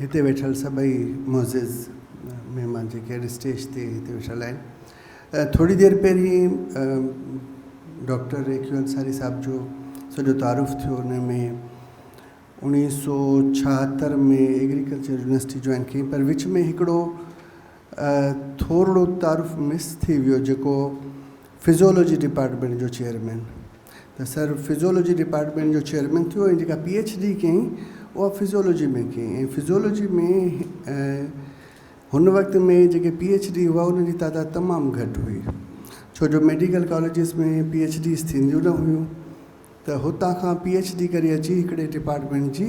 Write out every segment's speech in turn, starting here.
هتي ويٺل سڀئي معزز مهمان جيڪي اڄ اسٽيج تي هتي ويٺل آهن ٿوري دير پهرين ڊاڪٽر اي ڪيو انصاري صاحب جو سڄو تعارف ٿيو ان ۾ اوڻيهه سو ڇاهتر ۾ ايگريڪلچر يونيورسٽي جوائن ڪئي پر وچ ۾ هڪڙو ٿورڙو تعارف مس ٿي ويو جيڪو فزيولوجي ڊپارٽمينٽ جو چيئرمين ته سر فزيولوجي ڊپارٽمينٽ جو چيئرمين ٿيو ۽ جيڪا پي ايڇ ڊي ڪيائين اها فزيولوجي ۾ ڪيائين ۽ فزيولوجي ۾ هن وقت ۾ جيڪي پي ايڇ ڊي هئا انهن جي تعداد تمام گهٽ هئي ڇو جو medical colleges ۾ P H Ds ٿينديون نه هيون ته هتان کان پي ايڇ ڊي ڪري اچي هڪڙي ڊپارٽمينٽ جي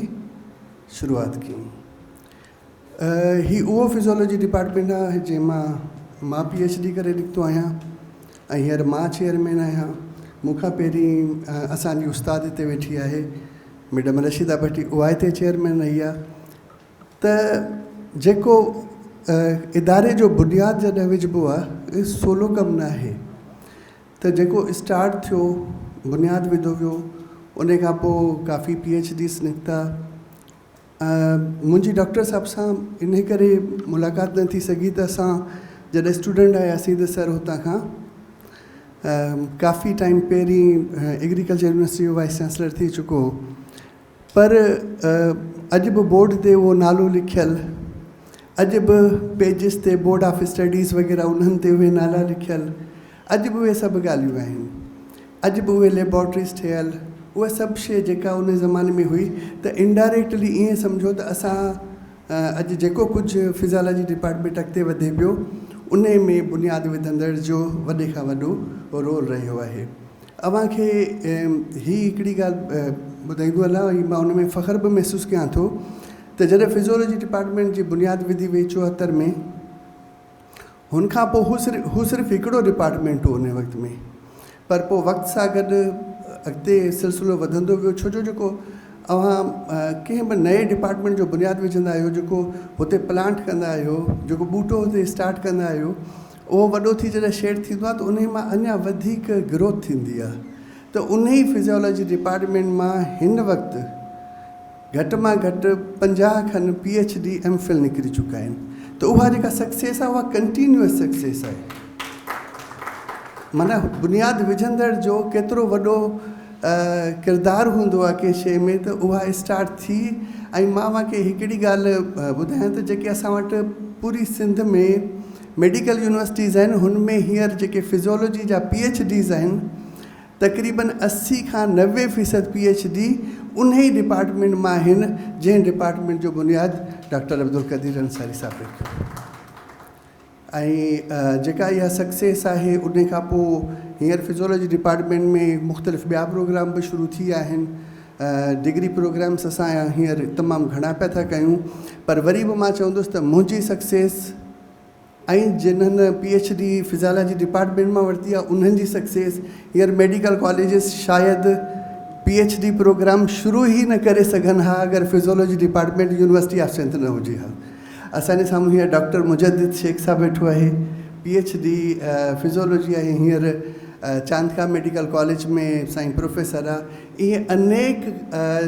شروعات ڪيائين هي اهو فزيالاجي ڊپارٽمينٽ آهي جنهن مان مان پي ايڇ ڊي ڪري نڪتو آهيان ۽ هينئر مان چيئرمين آهيان. مون کان پهرين اسان جي استاد هتي ويٺي آهي ميڊم رشيده ڀٽي اها هتي چيئرمين رهي آهي ته جيڪو اداري جو بنياد جڏهن وجهبو آهي اهو سولو ڪم نه آهي ته جيڪو اسٽارٽ ٿيو بنياد وڌو ويو ان کان پوء ڪافي پي ايڇ ڊيز نڪتا منهنجي ڊاڪٽر صاحب سان انهي ڪري ملاقات نه ٿي سگهي ته اسان جڏهن اسٽوڊنٽ آياسين ته سر هتان کان ڪافي ٽائيم پهرين ايگريڪلچر يونيورسٽي جو وائيس چانسلر ٿي چڪو هو پر اڄ به بورڊ تي هو نالو لکيل اڄ به پيجز تي بورڊ آف اسٽڊيز وغيره انهن تي اهي نالا لکيل اڄ به اهي سڀ ڳالهيون آهن. اڄ به اهي ليبارٽريز ٺهيل، اها سڀ شيء جيڪا ان زماني ۾ هئي ته انڊائريڪٽلي ائين سمجهو ته اسان اڄ جيڪو ڪجهه فزيالاجي ڊپارٽمينٽ اڳتي وڌي پيو انهي ۾ بنياد وڌندڙ جو وڏي کان وڏو رول رهيو آهي. اوهان کي هي هڪڙي ڳالهه ٻڌائيندو هلان ۽ مان ان ۾ فخر به محسوس ڪيان ٿو ته جڏهن فزيالاجي ڊپارٽمينٽ جي بنياد وڌي وئي چوهتر ۾، هن کان پوء هو صرف هو صرف هڪڙو ڊپارٽمينٽ هو ان وقت ۾ پر پوء وقت سان گڏ اڳتي سلسلو وڌندو ويو ڇو جو جيڪو اوهان ڪنهن به نئين ڊپارٽمينٽ جو بنياد وجهندا آهيو جيڪو هتي پلانٽ ڪندا آهيو جيڪو ٻوٽو هتي اسٽارٽ ڪندا آهيو اهو وڏو ٿي جڏهن شيڊ ٿيندو آهي ته انهي مان اڃا وڌيڪ گروٿ ٿيندي آهي ته انهي فزيالاجي ڊپارٽمينٽ مان هن وقت گهٽ مان گهٽ پنجاهه کن P H D M Phil نڪري چڪا آهن ته اها جيڪا سڪسيس آهي اها ڪنٽينيوس سڪسيس آهي معنيٰ بنياد وجهندڙ جو ڪيترو وڏو ڪردار هوندو آهي ڪنهن شيء ۾ ته اها اسٽارٽ ٿي ۽ مان اوهان کي هڪڙي ڳالهه ٻڌايان ته جيڪي اسان وٽ پوري سنڌ ۾ ميڊيڪل يونيورسٽيز آهن هن ۾ هينئر جيڪي فزيولوجي جا پي ايڇ ڊيز آهن تقريبن اسي کان نوي فيصد پي ايڇ ڊي انهي ڊپارٽمينٽ مان آهن جنهن ڊپارٽمينٽ جو بنياد ڊاڪٽر عبدالقدير انصاري صاحب رکيو ۽ جيڪا اها سڪسيس آهي انهي کان پوء هينئر فزيولوجي ڊپارٽمينٽ ۾ مختلف ٻيا پروگرام به شروع ٿي ويا آهن ڊگري پروگرامس اسان هينئر تمام گهڻا پيا ٿا ڪيون پر وري به مان چوندس ته منهنجي سڪسيس ۽ جنھن P H D physiology department مان ورتي آهي انهن جي سڪسيس هينئر ميڊيڪل ڪاليجز شايد پي ايڇ ڊي پروگرام شروع ئي نه ڪري سگهن ها اگر physiology department university of Sindh نه هجي ها اسان جي سامهون هينئر ڊاڪٽر مجدد شيخ صاحب ويٺو آهي پي ايڇ ڊي فزيالاجي آهي هينئر چاندکا ميڊيڪل ڪاليج ۾ سائين پروفيسر آهي ائين انيڪ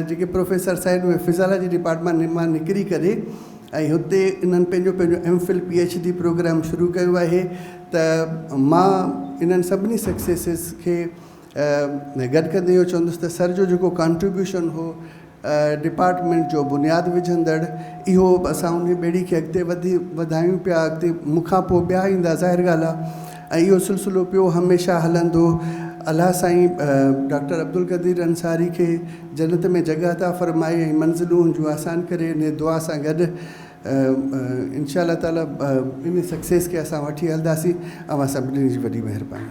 جيڪي پروفيسرس آهن اهي فزيالاجي ڊپارٽمينٽ مان نڪري ڪري ۽ هتي انهن پنهنجو پنهنجو M Phil P H D programme شروع ڪيو آهي ته مان انهن سڀني سڪسيسز کي گڏ ڪندي اهو چوندس ته سر جو جيڪو ڪانٽريبيوشن هو ڊپارٽمينٽ جو بنياد وجهندڙ اهو اسان انهي ٻيڙي کي اڳتي وڌي وڌايون پيا اڳتي مون کان پوء ٻيا ايندا ظاهر ڳالهه آهي ۽ اهو سلسلو پيو هميشه هلندو. الله سائين ڊاڪٽر عبدالقدير انصاري کي جنت ۾ جڳهه عطا فرمائي ۽ منزلون هن جون آسان ڪري انهي دعا سان گڏ انشاء الله تعالي انهي سڪسيس کي اسان وٺي هلنداسين. اوهان سڀني جي وڏي مهرباني.